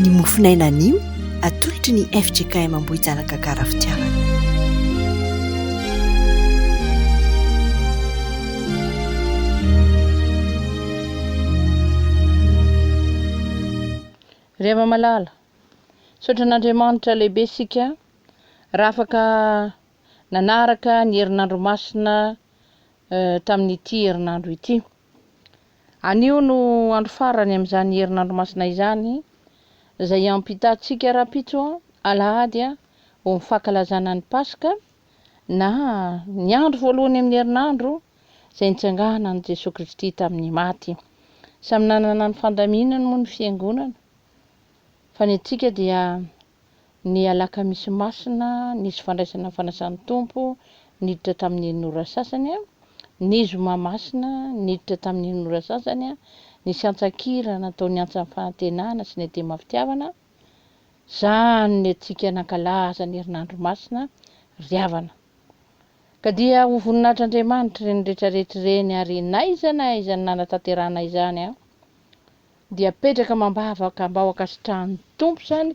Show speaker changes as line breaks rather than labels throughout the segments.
Ny mofon'aina anio atolotry ny fjkm Ambohijanaka Gara Fitiavana.
Ry Havana malala, misaotra an'Andriamanitra lehibe isika raha afaka nanaraka ny herinandro masina tamin'ity herinandro ity. Anio no andro farany amin'izany herinandro masina izany, izay hiampitantsika rahampitso alahady ho ny fankalazana ny Paska, na ny andro voalohany amin'ny herinandro izay nitsanganan'i Jesoa Kristy tamin'ny maty. Samy nanana ny fandaminany moa ny Fiangonana, fa ny antsika dia Ny alakamisy masina, nisy fandraisana ny fanasan'ny Tompo, niditra tamin'iny ora sasany. Ny zoma masina, niditra tamin'iny ora sasany. Nisy antsan-kira natao niantsa ny fanantenana sy ny adema fitiavana. Izany ny antsika nankalaza ny herinandro masina ry havana. Ka dia ho voninahitr'Andriamanitra ireny rehetra rehetra ireny ary n'aiza n'aiza no nanatanterahana izany. dia apetraka amam-bavaka mba ho ankasitrahan'ny Tompo izany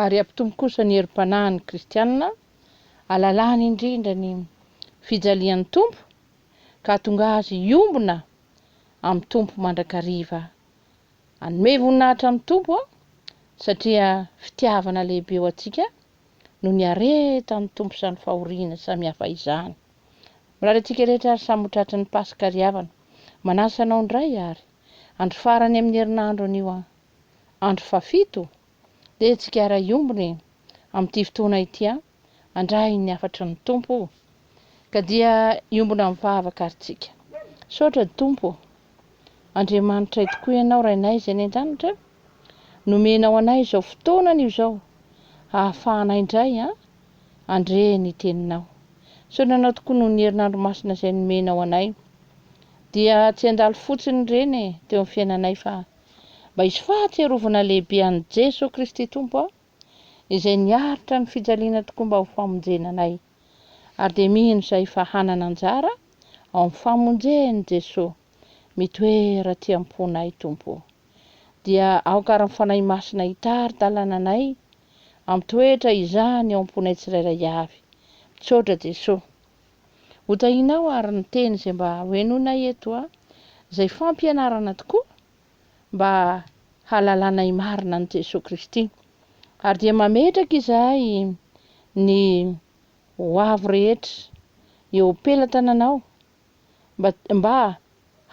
ary hampitombo kosa ny herim-panahin'ny kristiana alalany indrindra ny fijalian'ny Tompo ka hahatonga azy hiombona amin'ny Tompo mandrakariva. Hanome voninahitra ny Tompo aho satria fitiavana lehibe ho antsika no niaretan'ny Tompo izany fahoriana samihafa izany. Mirary antsika rehetra ary samy ho tratry ny Paska ry havana. Manasa anao indray ary. Andro farany amin'ny herinandro anio an! Andro fahafito? Dia tsigara hiombona e! Amin'ity fotoana ity an! Andrahiny ny hafatry ny Tompo o! Ka dia hiombona mivavaka ary tsika. Misaotra Tompo o! Andriamanitray tokoa Ianao Rainay izay any an-danitra, nomenao anay izao fotoana anio izao hahafahanay indray an! Andre ny teninao. Sao nanao tokoa noho ny herinandro masina izay nomenao anay. Dia tsy handalo fotsiny ireny e, teo amin'ny fiainanay fa mba hisy fahatsiarovana lehibe an'i Jeso Kristy Tompo a, izay niaritra ny fijaliana tokoa mba ho famonjena anay. Ary dia mino izahay fa hanana anjara ao amin'ny famonjen'i Jeso. Mitoera aty am-ponay Tompo o. Dia aoka ary ny Fanahy Masina hitari-dalana anay Ampitoetra izany ao am-ponay tsirairay avy. Misaotra Jesoa. Ho tahinao ary ny teny izay mba ho henoinay eto a, izay fampianarana tokoa mba halalanay marina an'i Jesoa Kristy. Ary dia mametraka izahay ny ho avy rehetra eo pelatananao mba mba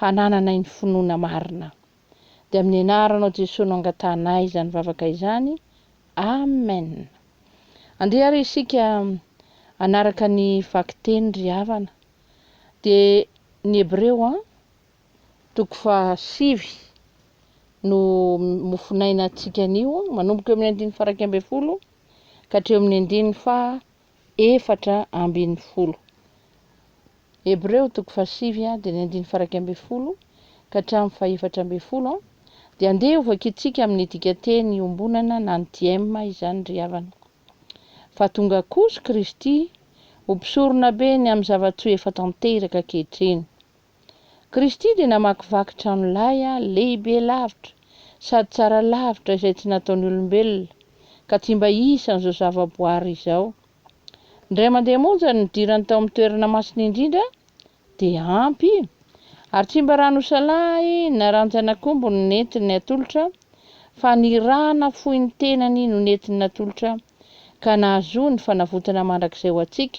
hanananay ny finoana marina. Dia amin'ny anaranao Jesoa no angatahanay izany vavaka izany. Amen. Andeha ary isika hanaraka ny vakiteny ry havana. Dia ny Hebreo an, toko faha sivy no mofonaina antsika anio, manomboka eo amin'ny andininy faha iraika ambin'ny folo ka hatreo amin'ny andininy faha efatra ambin'ny folo. Hebreo toko fahasivy dia ny andininy faraika ambin'ny folo ka hatramin'ny fahefatra ambin'ny folo dia andeha hovakitsika amin'ny dikanteny iombonana na ny diema izany ry havana. Fa tonga kosa Kristy ho mpisoronabe ny amin'ny zava-tsoa efa tanteraka ankehitriny. Kristy dia namakivaky trano lay lehibe lavitra sady tsara lavitra izay tsy nataon'ny olombelona, ka tsy mba isan'izao zavaboary izao. Indray mandeha monja ny nidirany tao amin'ny toerana masina indrindra dia ampy, ary tsy mba rano isalahy na ranjan'akombo no nentiny natolotra, fa ny ra nafoin'ny tenany no nentiny natolotra, ka nahazoany fanavotana mandrakizay ho antsika,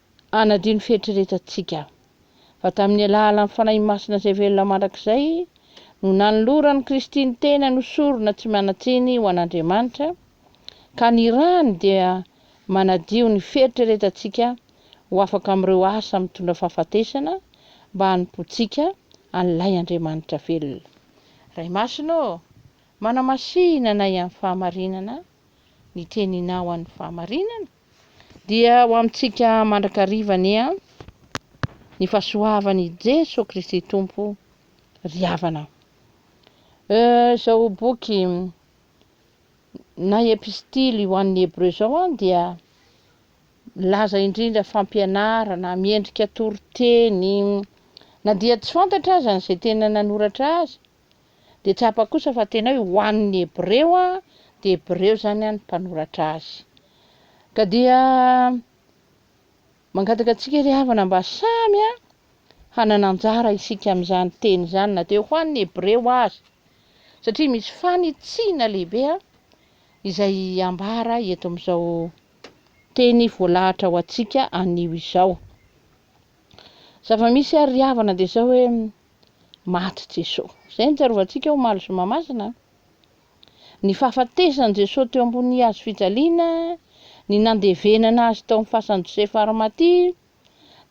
Hanadio ny fieritreretantsika. Fa tamin'ny alalan'ny Fanahy Masina izay velona mandrakizay no nanoloran'i Kristy ny tenany ho sorona tsy manan-tsiny ho an'Andriamanitra, ka ny rany dia manadio ny fieritreretantsika ho afaka amin'ireo asa mitondra fahafatesana mba hanompoantsika an'ilay Andriamanitra velona. Ray Masina ô, manamasina anay amin'ny fahamarinana ny teninao an'ny fahamarinana. Dia ho amintsika mandrakariva anie an! Ny fahasoavan' i Jesoa Kristy Tompo ry havana. Euh, izao boky na epistily ho an'ny Hebreo izao an dia milaza indrindra fampianarana, miendrika toriteny, na dia tsy fantatra aza ny izay tena nanoratra azy, Dia tsapa kosa fa tena hoe ho an'ny Hebreo an, dia Hebreo izany an ny mpanoratra azy. Ka dia mangataka antsika ry havana mba samy an hanana anjara isika amin'izany teny izany na dia ho an'ny Hebreo aza, satria misy fanitsiana lehibe an izay ambara eto amin'izao teny voalahatra ho antsika anio izao. Zava-misy ary ry havana dia izao hoe maty Jesoa. Izay no tsarovan-tsika omaly zoma masina an! Ny fahafatesan'i Jesoa teo ambonin'ny hazo fijaliana, ny nandevenana Azy tao amin'ny fasan'i Josefa Arimatia,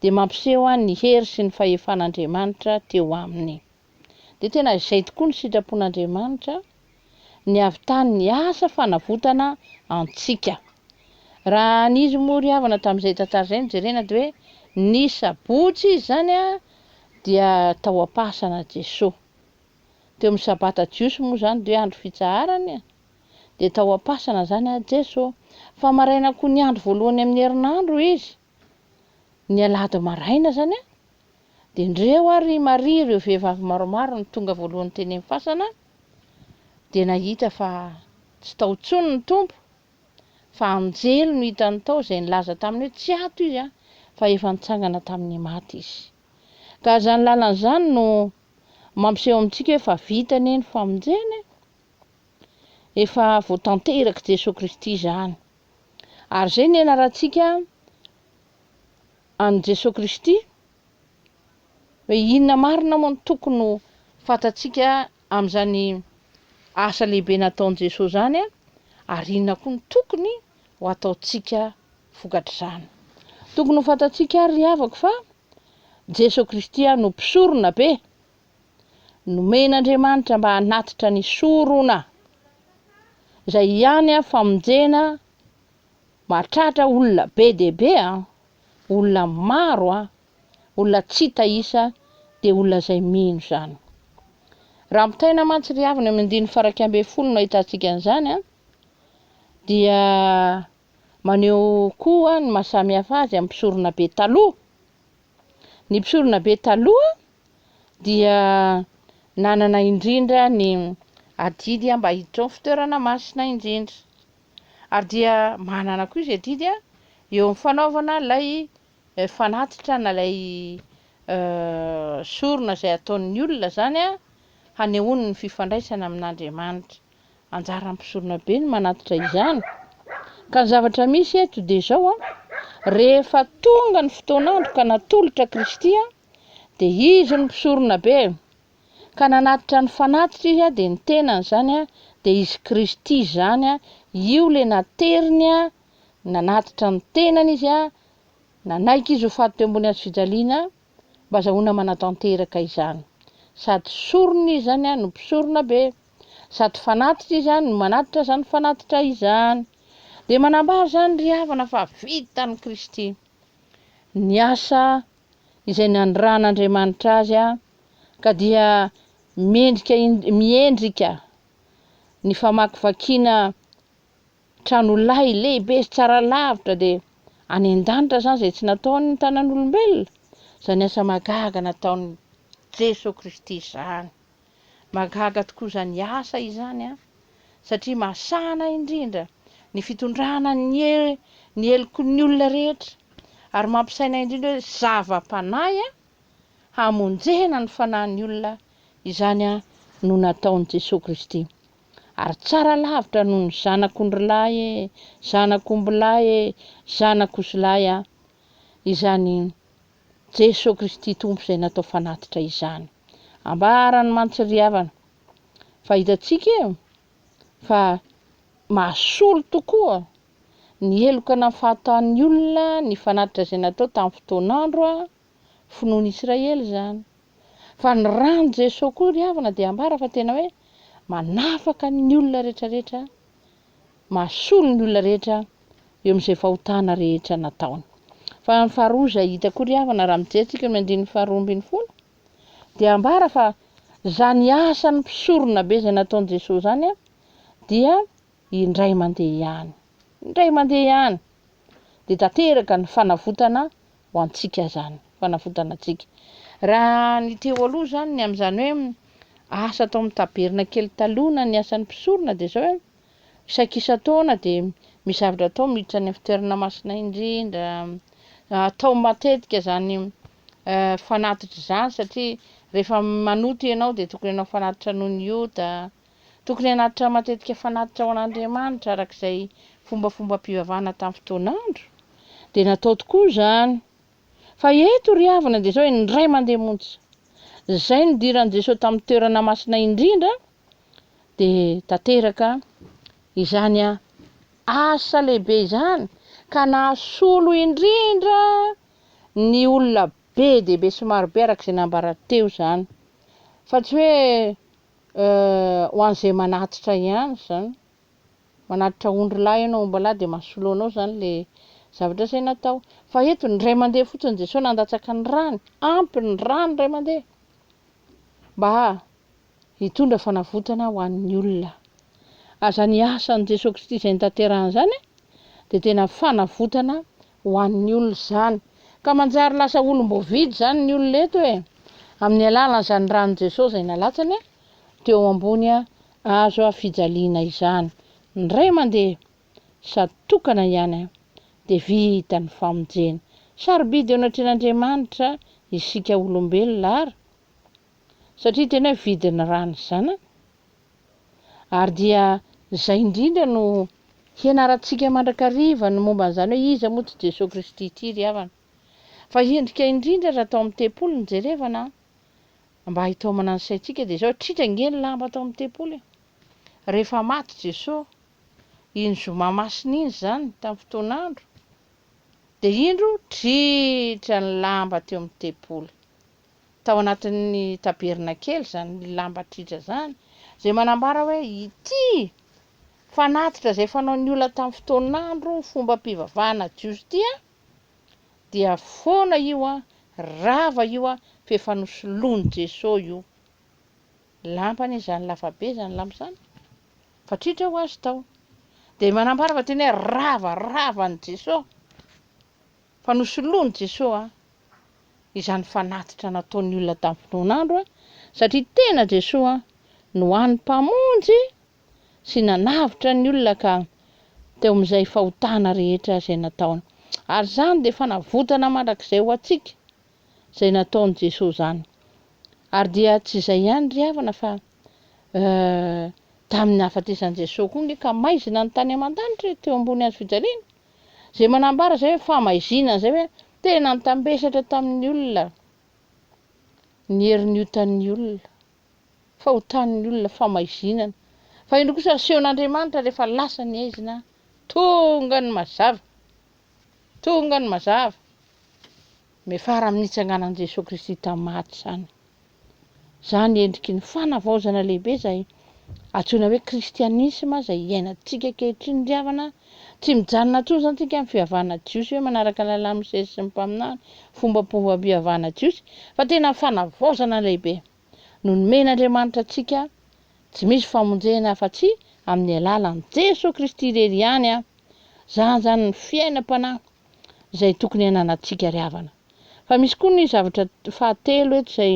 dia mampiseho an ny hery sy ny fahefan'Andriamanitra teo Aminy. Dia tena izay tokoa ny sitrapon'Andriamanitra an! ny avy tany niasa fanavotana antsika. Raha nisy moa ry havana tamin'izay tantara izay no jerena dia hoe ny sabotsy izy izany dia tao am-pahasanan'i Jesoa. Teo amin'ny sabata jiosy moa izany dia hoe andro fitsaharana e! dia tao am-pasana izany Jesoa. Fa maraina koa ny andro voalohany amin'ny herinandro izy. Ny alahady maraina izany an, dia ndreo ary i Maria ireo vehivavy maromaro no tonga voalohany teny amin'ny fasana dia nahita fa tsy tao intsony ny Tompo fa anjely no hitany tao izay nilaza taminy hoe tsy ato Izy an, fa efa nitsangana tamin'ny maty Izy. Ka izany lalana izany no mampiseho amintsika hoe fa vita anie ny famonjena e! Efa voatanterak'i Jesoa Kristy izany. Ary izay nianarantsika an'i Jesoa Kristy, hoe inona marina moa no tokony ho fantatsika amin'izany asa lehibe nataon'i Jesoa izany ary inona koa no tokony ho ataontsika vokatr'izany. Tokony ho fantatsika àry ry havako fa Jesoa Kristy no Mpisoronabe Nomen'Andriamanitra mba hanatitra ny sorona, izay ihany an famonjena mahatratra olona be dia be an, olona maro an, olona tsy hita isa dia olona izay mino izany. Raha mitaina mantsy ry havana amin'ny andininy faraika ambin'ny folo no ahitantsika an'izany an, dia maneho koa ny maha samihafa azy amin'ny mpisorona be taloha. Ny mpisorona be taloha dia nanana indrindra ny adidy mba hiditra ao amin'ny fitoerana masina indrindra. Ary dia manana koa izy adidy eo amin'ny fanaovana ilay fanatitra na ilay sorona izay ataon'ny olona izany hanehoany ny fifandraisany amin'Andriamanitra. Anjaran'ny mpisorona be ny manatitra izany. Ka ny zavatra misy eto dia izao, rehefa tonga ny fotoan'andro ka natolotra Kristy aho, Dia izy no mpisorona be, ka nanatitra ny fanatitra izy, dia ny tenany izany dia izy Kristy izany, io ilay nateriny, nanatitra ny tenany izy, nanaiky izy ho faty teo ambony hazo fijaliana, mba azahoana manatanteraka izany. Sady sorona izy izany no mpisorona be, sady fanatitra izy no manatitra izany fanatitra izany. Dia manambara izany ry havana fa vitan'i Kristy ny asa izay nanirahan'Andriamanitra azy ka dia mendrika miendrika ny famakivakiana tranolahy lehibe sy tsara lavitra dia any an-danitra izany izay tsy nataon'ny tanan'olombelona, izany asa mahagaga nataon'i Jesoa Kristy izany. Mahagaga tokoa izany asa izany an! satria mahasahana indrindra ny fitondrana ny ny heloky ny olona rehetra ary mampisaina indrindra hoe zava-panahy an! hamonjena ny fanahin'ny olona izany an! no nataon'i Jesoa Kristy ary tsara lavitra noho ny zanak'ondrilahy e! zanak'ombilahy e! zanak'ozilahy an! izany Jeso Kristy Tompo izay natao fanatitra izany. Ambarany mantsy ry havana fa hitantsika eo fa mahasolo tokoa ny heloka na fahataan'ny olona ny fanatitra izay natao tamin'ny fotoan'andro finoan'ny Israely izany. Fa ny ran'i Jeso koa ry havana dia ambara fa tena hoe manafaka ny olona rehetra rehetra mahasolo ny olona rehetra eo amin'izay fahotana rehetra nataony. Fa ny faharoa izay hita koa ry havana raha mijery tsika ny andininy faharoa ambin'ny folo dia ambara fa zany asan'ny mpisorona be izay nataon'i Jesoa zany dia indray mandeha ihany indray mandeha ihany dia tanteraka ny fanavotana ho antsika izany, fanavotana antsika. Raha ny teo aloha izany, ny amin'izany hoe asa atao amin'ny tabernakely taloha na ny asan'ny mpisorona dia izao hoe isaky isan-taona dia misy zavatra atao miditra any amin'ny fitoerana masina indrindra, atao matetika izany fanatitra izany satria rehefa manoto ianao dia tokony hanao fanatitra noho ny ota, Tokony hanatitra matetika fanatitra ho an'Andriamanitra araka izay fombafombam-pivavahana tamin'ny fotoan'andro, dia natao tokoa izany. Fa eto ry havana dia izao hoe indray mandeha monja izay nidiran'i Jesoa tamin'ny toerana masina indrindra dia tanteraka izany asa lehibe izany ka nahasolo indrindra ny olona be dia be sy marobe araka izay nambara teo izany. Fa tsy hoe Euh ho an'izay manatitra ihany zany, manatitra ondry lahy ianao omby lahy dia mahasolo anao zany le zavatra zay natao. Fa eto ny ray mandeha fotsiny Jesoa nandatsaka ny rany, ampy ny rany ray mandeha mba hitondra fanavotana ho an'ny olona. Aza ny asan'i Jesoa Kristy izay nitaterany zany dia tena fanavotana ho an'ny olona izany. Ka manjary lasa olom-boavidy izany ny olona eto e! Amin'ny alalan'izany ran'i Jesoa izay nalatsany teo ambony hazo fijaliana izany, indray mandeha, sady tokana ihany, dia vita ny famonjena. Sarobidy eo anatrehan'Andriamanitra isika olombelona ary. satria tena vidin'ny ra ny zanany ary dia izay indrindra no hianarantsika mandrakariva ny momba an'izany hoe iza moa ity Jesoa Kristy ity ry havana fa hendrika indrindra raha tao amin'ny tempoly no jerevana an! mba hitaomana ny saintsika dia izao tritra ange ny lamba tao amin'ny tempoly e! rehefa maty Jesoa iny zoma masina iny izany tamin'ny fotoan'andro dia indro tritra ny lamba teo amin'ny tempoly tao anatin'ny tabernakely, izany lambatr'hitra izany, izay manambara hoe ity fanatitra izay fanaon'ny olona tamin'ny fotoan'andro fombam-pivavahana jiosy ity an, dia foana io an, rava io an, fa efa nosoloin'i Jesoa io. Lamba anie izany lava be izany lamba izany, fa tritra ho azy tao. Dia manambara fa tena hoe rava, rava an'i Jesoa. Fa nosoloan'i Jesoa izany fanatitra nataon'ny olona tamin'ny fotoan'andro, satria tena Jesoa no hany Mpamonjy sy nanavotra ny olona ka teo amin'izay fahotana rehetra izay nataony. Ary izany dia fanavotana mandrakizay ho antsika izay nataon'i Jesoa izany. Ary dia tsy izay ihany ry havana fa eh, tamin'ny nahafatesan'i Jesoa koa nge ka maizina ny tany aman-danitra e, teo ambony hazofijaliana. Izay manambara izay hoe famaiziana an'izay hoe tena nitambesatra tamin'ny olona ny herin'ny otan'ny olona, fa otan'ny olona, famaizinana. Fa indro kosa asehon'Andriamanitra rehefa lasa ny aizina, tonga ny mazava, tonga ny mazava. Miafara amin'ny nitsanganan'i Jesoa Kristy tamin'ny maty izany. Izany endriky ny fanavaozana lehibe izay antsoina hoe kristianisma izay iainantsika ankehitriny ry havana, tsy mijanona intsony izany isika amin'ny fivavahana jiosy hoe manaraka ny lalàn'i Mosesy sy ny mpaminany, fombam-pivavahana jiosy, fa tena fanavaozana lehibe no nomen'Andriamanitra antsika, tsy misy famonjena afa-tsy amin'ny alalan'i Jesoa Kristy irery ihany an! Izany izany ny fiainam-panahy. izay tokony hananantsika ry havana. Fa misy koa ny zavatra fahatelo eto izay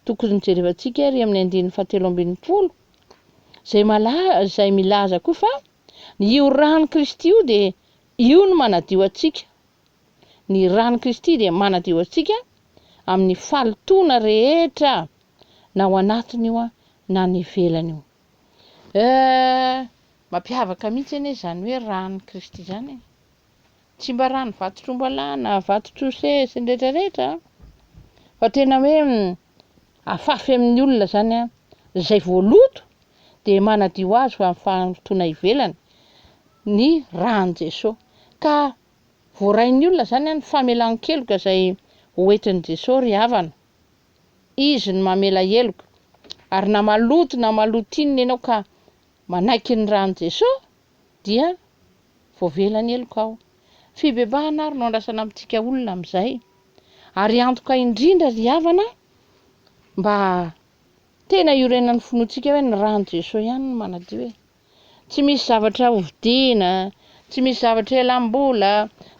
tokony jerevantsika ery amin'ny andininy fahatelo ambin'ny folo izay mala izay milaza koa fa ny io rano Kristy io dia io no manadio antsika. Ny rano Kristy dia manadio antsika amin'ny falotoana rehetra na ao anatiny io na ny ivelany io. Eh, mampiavaka mihitsy anie izany hoe rano Kristy izany. tsy mba rano vato trombalà na vato trosé sy ny rehetra rehetra an, fa tena hoe afafy amin'ny olona zany an, izay voaloto dia manadio azy ho amin'ny fahalotoana ivelany ny ran'i Jeso, ka voarain'ny olona zany an ny famelan-keloka izay hoentin'i Jeso ry havana, Izy no mamela heloka, ary na maloto na maloto inona ianao ka manaiky ny ran'i Jeso, dia voavela ny heloka ao. Fibebahana ary no andrasana amintsika olona amin'izay. Ary antoka indrindra ry havana mba tena hiorenan'ny finoantsika hoe ny ran'i Jesoa ihany no manadio e. Tsy misy zavatra hovidiana, tsy misy zavatra elam-bola,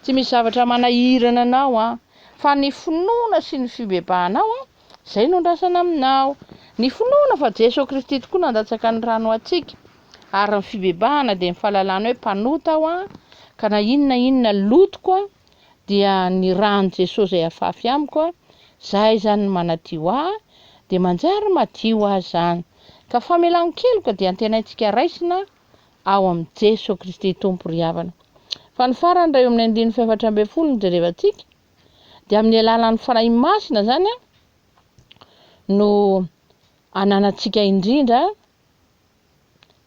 tsy misy zavatra manahirana anao an. Fa ny finoana sy ny fibebahanao an, Izay no andrasana aminao. Ny finoana fa Jeso Kristy tokoa nandatsaka ny rany ho antsika, ary ny fibebahana dia ny fahalalana hoe mpanota aho an, ka na inona na inona lotoko an, dia ny ran'i Jeso izay afafy amiko an, Zah izany no manadio ahy, dia manjary madio aho izany. Ka famelan-keloka dia antenaintsika raisina ao amin'i Jeso Kristy Tompo ry havana. Fa ny farany raha eo amin'ny andininy faefatra ambin'ny folo no jerevantsika, Dia amin'ny alalan'ny Fanahy Masina izany no ananantsika indrindra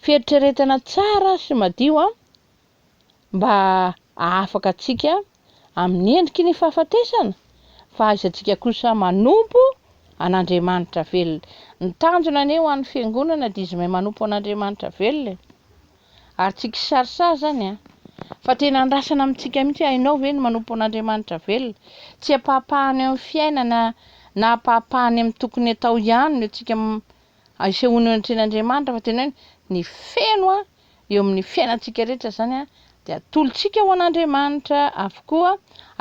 fieritreretana tsara sy madio mba hahafaka antsika amin'ny endriky ny fahafatesana fa haizantsika kosa manompo an'Andriamanitra velona. Ny tanjona anie ho an'ny fiangonana dia izy mahay manompo an'Andriamanitra velona. Ary tsy kisarisary izany an! Fa tena andrasana amintsika mihitsy hoe hainao ve ny manompo an'Andriamanitra velona? Tsy ampahapahany eo amin'ny fiainana na ampahapahany amin'ny tokony atao ihany no antsika isehoana eo anatrehan'Andriamanitra fa tena hoe ny feno an! eo amin'ny fiainantsika rehetra izany an! dia atolotsika ho an'Andriamanitra avokoa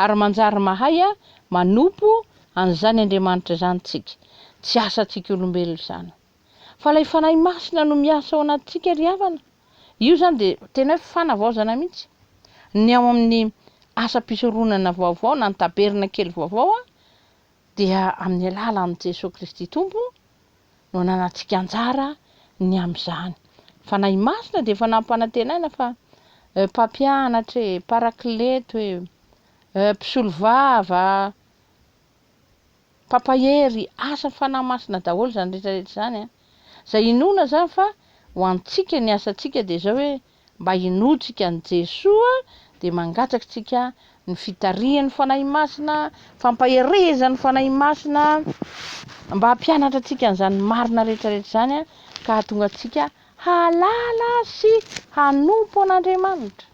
ary manjary mahay an! manompo an'izany Andriamanitra izany tsika. Tsy asantsika olombelona izany. Fa ilay Fanahy Masina no miasa ao anatintsika ry havana. Io izany dia tena hoe fanavaozana mihitsy. Ny ao amin'ny asam-pisoronana vaovao na ny tabernakely vaovao dia amin'ny alalan'i Jesoa Kristy Tompo no ananantsika anjara ny amin'izany. Fanahy Masina dia efa nampanantenaina fa eh, mpampianatra eh, parakleto eh, eh, mpisolovava, Mpampahery asan'ny Fanahy Masina daholo izany rehetra rehetra izany an! Izay inoana izany fa ho antsika ny asantsika dia izao hoe mba hinoantsika an'i Jesoa dia mangatsakitsika ny fitarihan'ny Fanahy Masina, fampaherezan'ny Fanahy Masina mba hampianatra antsika an'izany marina rehetra rehetra izany an! Ka hahatonga antsika hahalala sy hanompo an'Andriamanitra.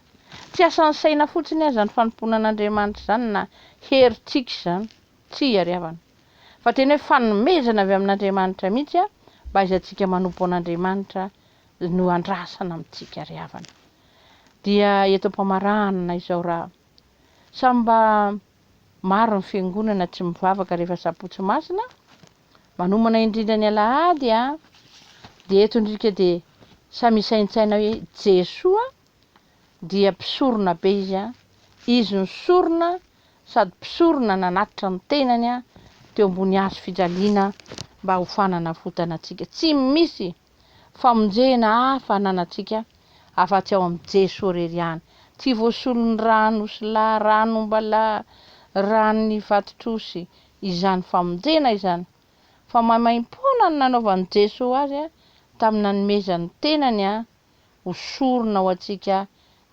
Tsy asan'ny saina fotsiny aza ny fanompoana an'Andriamanitra izany na herintsika izany, tsia ry havana, fa tena hoe fanomezana avy amin'Andriamanitra mihitsy an, mba aizantsika manompo an'Andriamanitra no andrasana amintsika ry havana. Dia eto am-pamaranana izao ra samy mba maro ny fiangonana tsy mivavaka rehefa sabotsy masina, manomana indrindra ny alahady an, dia eto indrika dia samy hisaintsaina hoe Jesoa dia mpisorona be izy an, izy no sorona sady mpisorona nanatitra ny tenany an teo ambony hazo fijaliana mba ho fananavotana antsika. Tsy misy famonjena hafa ananantsika afa-tsy ao amin'i Jesoa irery ihany. Tsy voasolon'ny ran'osilahy, ran'ombalahy, ran'ny vatotr'osy izany famonjena izany, fa maimaim-poana no nanaovan'i Jesoa azy an tamin'ny nanomezany ny tenany an ho sorona ho antsika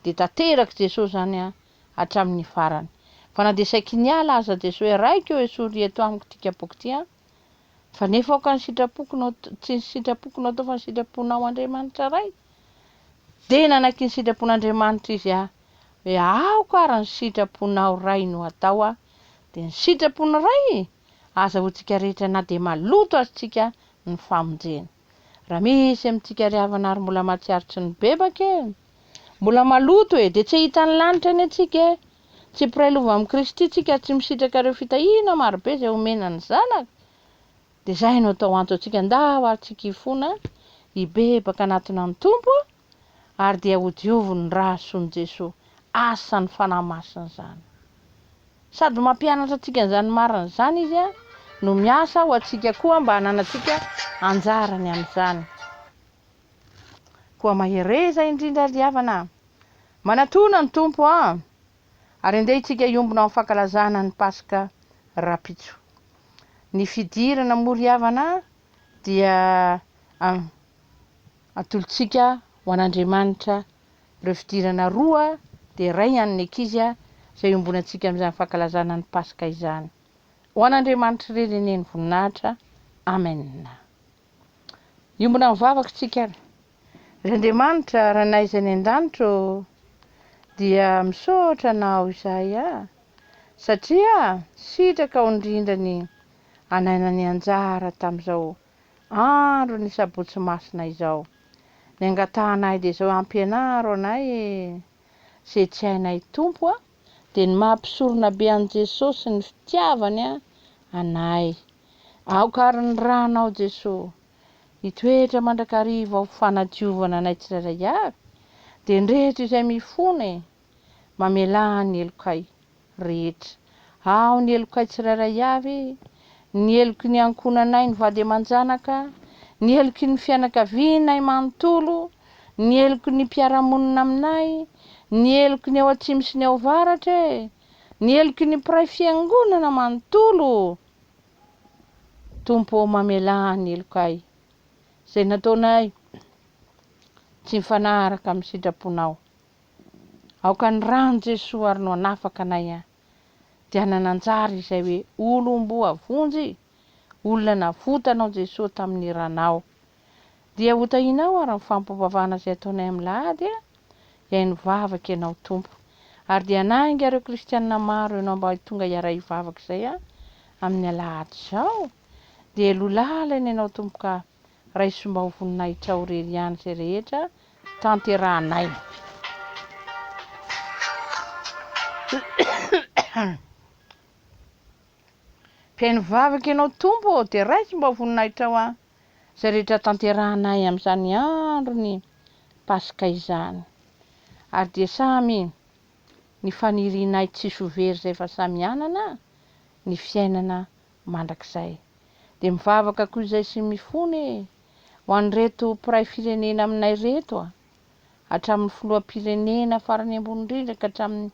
dia tanterak'i Jesoa izany an hatramin'ny farany. Fa na dia saiky niala aza Jesoa hoe Raiko ô esory ry eto amiko ity kapoaka ity an, fa nefa aoka ny sitrapoko no tsy ny sitrapoko no atao fa ny sitraponao Andriamanitra Ray. Dia nanaky ny sitrapon'Andriamanitra izy an hoe aoka ary ny sitraponao Ray no atao an, dia ny sitrapon'i Ray aza ho tsika rehetra na dia maloto aza tsika ny famonjena. Raha misy amintsika ry havana ary mbola mahatsiaro tsy nibebaka e! Mbola maloto e! Dia tsy hahita ny lanitra anie tsika e! Tsy mpiray lova amin'i Kristy tsika ary tsy misitraka ireo fitahiana marobe izay omena ny Zanaka. Dia izay no atao anto antsika ndao ary tsika hifona hibebaka anatiny an'ny Tompo. ary dia hodioviny ny ra hasoan'i Jesoa. Asa ny Fanahy Masina izany. Sady mampianatra antsika an'izany marina izany Izy no miasa ho antsika koa mba hananantsika anjarany amin'izany. Koa mahereza indrindra ry havana. Manatona ny Tompo a! Ary andeha itsika hiombona ao amin'ny fankalazana ny Paska rahampitso. Ny fidirana moa ry havana dia Atolotsika ho an'Andriamanitra ireo fidirana roa dia iray ihany ny ankizy a, izay iombonantsika amin'izany fankalazana ny Paska izany. Ho an'Andriamanitra irery anie ny voninahitra. Amen. Hiombona amin'ny vavaka isika ary. Ry Andriamanitra, Ranay izay any an-danitra ô, dia misaotra Anao izahay a, satria sitraka ho nirindra ny anay nanianjara tamin'izao Andro ny sabotsy masina izao. Ny angatahanay dia izao ampianaro anay e! Izay tsy hainay Tompo a! Dia ny maha mpisorona be an'i Jesosy ny fitiavany a! Anay. Aoka ary ny ranao Jesoa. Hitoetra mandrakariva ho fanadiovana anay tsirairay avy. Dia ny rehetra izay mifona e! Mamelà ny helokay rehetra. Aho ny helokay tsirairay avy, ny heloky ny ankohonanay ny vady aman-janaka, ny heloky ny fianakavianay manontolo, ny heloky ny mpiara-monina aminay, ny heloky ny ao atsimo sy ny ao avaratra e! ny heloky ny mpiray fiangonana manontolo! Tompo ô mamelà ny helokay, izay nataonay tsy mifanaraka amin'ny sitraponao. Aoka ny rany Jesoa ary no hanafaka anay a! Dia nananjary izay hoe olom-boavonjy, olona navotanao Jesoa tamin'ny ranao. Dia ho tahinao ary ny fampivavahana izay ataonay amin'lahady a! Iay nivavaka ianao Tompo, ary dia hanainga ireo kristianina maro ianao mba hitonga hiaray hivavaka izay a! amin'ny alahady izao. Dia lolahalaina ianao Tompo ka. Raisomba ho voninahitrao rery ihany izay rehetra tanterahanay. Mpihaino vavaka ianao Tompo ô, dia raiso mba ho voninahitrao aho izay rehetra tanterahanay amin'izany andron'ny Paska izany. Ary dia samy ny fanirianay tsisy ho very izay fa samy hanana ny fiainana mandrakizay. dia mivavaka ko izay sy mifona e! ho an'ireto mpiray firenena aminay reto a! hatramin'ny filoham-pirenena farany ambony indrindra ka hatramin'ny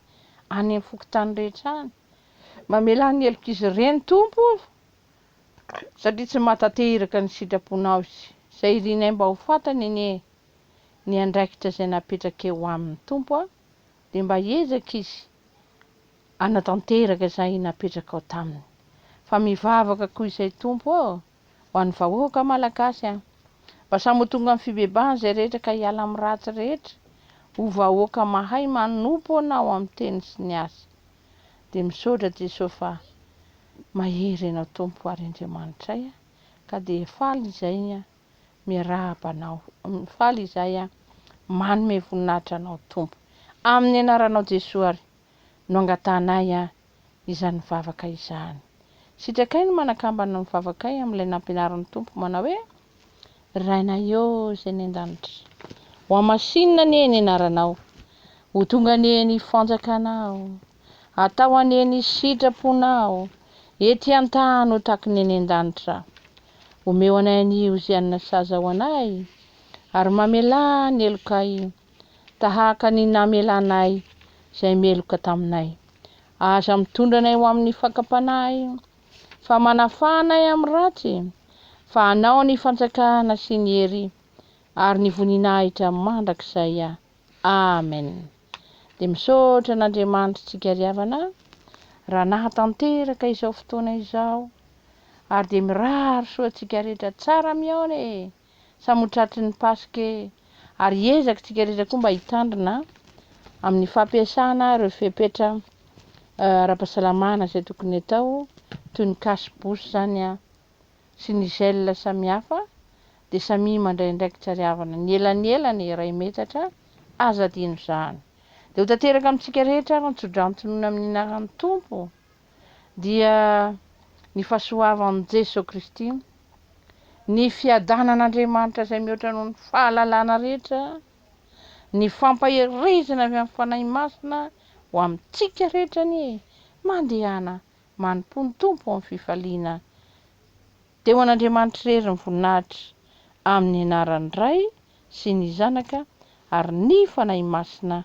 any amin'ny fokontany rehetra any, mamelà ny helok'izy ireny Tompo o! satria tsy mahatantehiraka ny sitraponao izy, izay irinay mba ho fantany anie ny andraikitra izay napetrakeo aminy Tompo a! dia mba hiezaka izy Hanatanteraka izay napetrakao taminy. Fa mivavaka koa izay Tompo ô! ho an'ny vahoaka Malagasy an! Mba samy ho tonga amin'ny fibebahana izay rehetra ka hiala amin'ny ratsy rehetra, ho vahoaka mahay manompo Anao amin'ny teny sy ny asa. Dia misaotra Jesosy fa mahery Ianao Tompo ary Andriamanitray an! ka dia faly izay an! miarahaba Anao, faly izay an! manome voninahitra Anao Tompo. Amin'ny Anaranao Jesoa ary. no angatahanay an izany vavaka izany. Sitrakay ny manakambana ny vavakay amin'ilay nampianarin'ny Tompo manao hoe, Rainay ô Izay any an-danitra, hohamasinina anie ny anaranao, ho tonga anie ny fanjakanao, atao anie ny sitraponao ety an-tany ho taky ny any an-danitra. Omeo anay anio izay hanina sazy ao anay, ary mamelà ny helokay tahaka ny namelanay izay meloka taminay. Aza mitondra anay ho amin'ny fakam-panahy, fa manafaha anay amin'ny ratsy, fa anao ny fanjakana sy ny hery ary ny voninahitra mandrakizay. Amen. Dia misaotra an'Andriamanitra tsika ry havana raha nahatanteraka izao fotoana izao ary dia mirary soa antsika rehetra tsara mihaona e. Samy ho tratry ny Paska e! Ary hiezaka isika rehetra koa mba hitandrina amin'ny fampiasana ireo fepetra ara-pahasalamana izay tokony atao toy ny cache bouche izany sy ny gel samihafa dia samia mandray andraikitra ry havana, ny elanelany iray metatra, aza adino izany. Dia ho tanteraka amintsika rehetra ary ny tso-drantsy nohon'ny amin'ny anaran'ny Tompo. dia ny fahasoavan'i Jesoa Kristy, ny fiadanan'Andriamanitra izay mihoatra noho ny fahalalana rehetra, ny fampaherezana avy amin'ny Fanahy Masina ho amintsika rehetra anie mandehana manompoa ny Tompo amin'ny fifaliana dia ho an'Andriamanitra irery ny voninahitra amin'ny anaran'ny Ray sy ny Zanaka ary ny Fanahy Masina